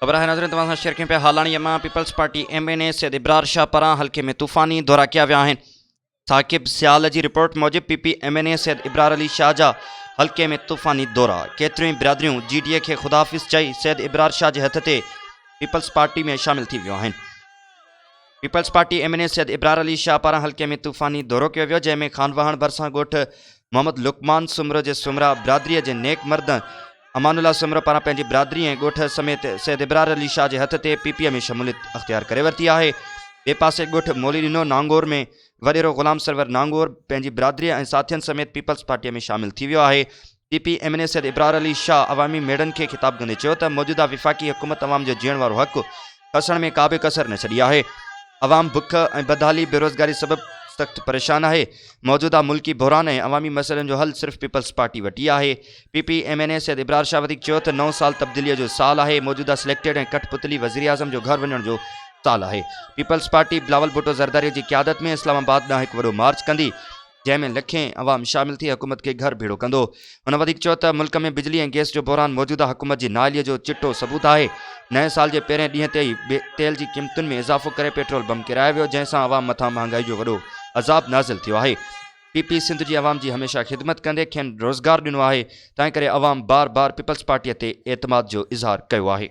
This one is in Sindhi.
خبر آهي ناظرين توهان سان شيئر ڪيون پيا هالاڻي مان Peoples Party M N A Syed Abrar Shah پران حلقي ۾ طوفاني دورا ڪيا ويا آهن ثاقب سيال جي رپورٽ موجب P P M N A Syed Abrar Ali Shah جا حلقي ۾ طوفاني دورا ڪيتريون برادريون جي ڊي اي کي خداحافظ چئي سيد ابرار شاهه جي هٿ تي پيپلز پارٽي ۾ شامل ٿي ويو آهن Peoples Party M N A Syed Abrar Ali Shah پاران حلقي ۾ طوفاني دورو ڪيو ويو جنهن ۾ خان واهڻ ڀرسان ڳوٺ محمد لقمان سومرو جي سومرا برادري جي نيڪ مرد امان الله سومرو پاران پنهنجي برادري ۽ ڳوٺ سميت سيد ابرار علي شاهه جي هٿ تي پي پي ۾ شموليت اختيار ڪري ورتي آهي ٻئي پاسي ڳوٺ مولي ڏنو نانگور ۾ وڏيرو غلام سرور نانگور پنهنجي برادري ۽ ساٿين سميت پيپلز پارٽي ۾ شامل ٿي ويو آهي D P M N A Syed Abrar Ali Shah عوامي ميڙن کي خطاب ڪندي چيو ته موجوده وفاقي حڪومت عوام جو جيئڻ وارو حق کسڻ ۾ ڪا به ڪسر نه ڇڏي آهي عوام بک ۽ بدحالي بيروزگاري سبب سخت پريشان آهي موجوده ملڪي بحران ۽ عوامي مسئلن جو حل صرف پيپلز پارٽي وٽ ئي آهي P P M N A Syed Abrar Shah وڌيڪ چيو ته نو سال تبديلي جو سال آهي موجوده سليڪٽيڊ ۽ ڪٺ پتلي وزيراعظم جو گهر وڃڻ جو سال آهي پيپلز پارٽي بلاول ڀٽو زرداري جي قيادت ۾ اسلام آباد ڏانهن هڪ وڏو مارچ ڪندي جنهن ۾ لکين عوام شامل ٿي حڪومت کي گهر ڀيڙو ڪندو. هن وڌيڪ چيو ته ملڪ ۾ بجلي ۽ گئس جو بحران موجوده حڪومت جي نااهليء جو چٽو ثبوت آهي، نئين سال جي پهرئين ڏينهن تي ئي تيل جي قيمتن ۾ اضافو ڪري پيٽرول بم ڪيرايو ويو جنهن سان عوام مٿان مهانگائي جو وڏو عذاب نازل ٿيو آهي، پي پي سنڌ جي عوام جي هميشه خدمت ڪندي کين روزگار ڏنو آهي تنهنڪري عوام بار بار پيپلزپارٽيء تي اعتماد جو اظهار ڪيو آهي.